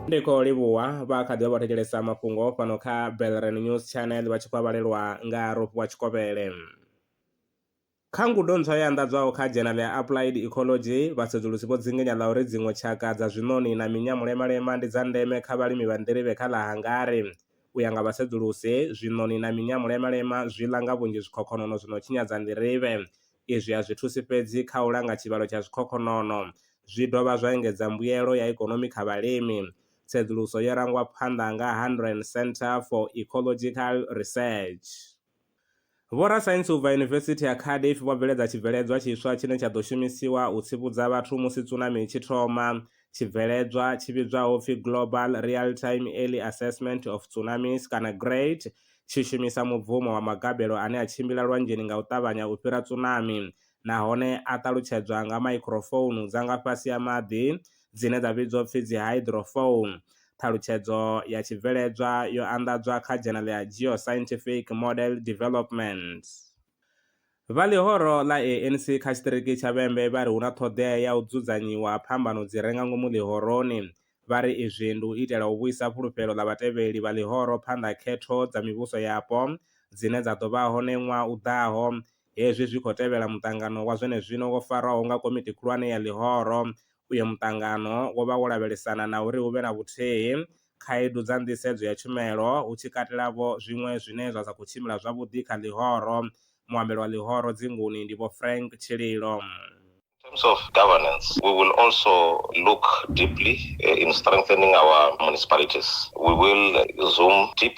ndi khou livhuwa vha kha ḓivha vha thetshelesa mafhungo fhano kha belren news channel vha tshi khou vhalelwa nga rofhiwa tshikovhele kha ngudo ntswa yo anḓadzwaho kha dzhenal ya applied ecology vhasedzulusi vho dzingenya ḽa uri dziṅwe tshaka dza zwiṋoni na minya mulemalema ndi dza ndeme kha vhalimi vha nḓirivhe kha ḽa hangari u ya nga vhasedzulusi zwiṋoni na minya mulemalema zwi ḽa nga vhunzhi zwikhokhonono zwi no tshinyadza nḓirivhe Izwi a zwi thusi fhedzi kha u langa tshivhalo tsha zwikhokhonono, zwi dovha zwa engedza mbuyelo ya ikonomi kha vhalimi. Tsedzuluso yo rangwa phanḓa nga Hanren Centre for Ecological Research. Vhorasaintsi u bva Yunivesithi ya Cardiff vho bveledza tshibveledzwa tshiswa tshine tsha ḓo shumisiwa u tsivhudza vhathu musi tsunami i tshi thoma. Tshibveledzwa, tshi vhidzwaho u pfi Global Real-Time Early Assessment of Tsunamis kana GREAT, tshi shumisa mubvumo wa magabelo ane a tshimbila lwanzheni nga u ṱavhanya u fhira tsunami nahone a ṱalutshedzwa nga maikhrofounu dza nga fhasi ha maḓi dzine dza vhidzwa upfi dzi hydrophone. Ṱhalutshedzo ya tshibveledzwa yo anḓadzwa kha dzhenele ya Geoscientific Model Development. Vha ḽihoro ḽa ANC kha tshiṱiriki tsha Vhembe vha ri hu na ṱhoḓea ya u dzudzanyiwa ha phambano dzi re nga ngomu ḽihoroni. Vha ri izwi ndi u itela u vhuisa fhulufhelo ḽa vhatevheli vha ḽihoro phanḓa ha khetho dza mivhuso yapo dzine dza ḓo vha hone ṅwaha u ḓaho. Hezwi zwi khou tevhela muṱangano wa zwenezwino wo farwaho nga komiti khulwane ya ḽihoro. Uyo muṱangano wo vha wo lavhelesana na uri hu vhe na vhuthihi khaedu dza nḓisedzo ya tshumelo, hu tshi katela-vho zwiṅwe zwine zwa sa khou tshimbila zwavhuḓi kha ḽihoro. Muambeli wa ḽihoro dzinguni ndi Vho Frank Tshililo. In terms of governance, we will also look deeply in strengthening our municipalities. We will zoom deep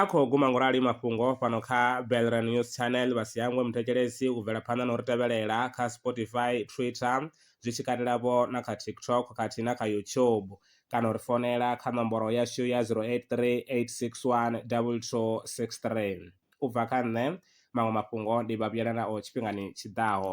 A khou guma ngorali mafhungo fhano kha Belre News Channel vha si hangwe muthetshelesi u bvela phanḓa na u ri tevhelela kha Spotify, Twitter zwi tshi katela vho na kha TikTok khathihi na kha YouTube kana u ri founela kha nomboro yashu ya 083861 2263. U bva kha nṋe, maṅwe mafhungo ndi vha vhuyela nao tshifhingani tshi ḓaho.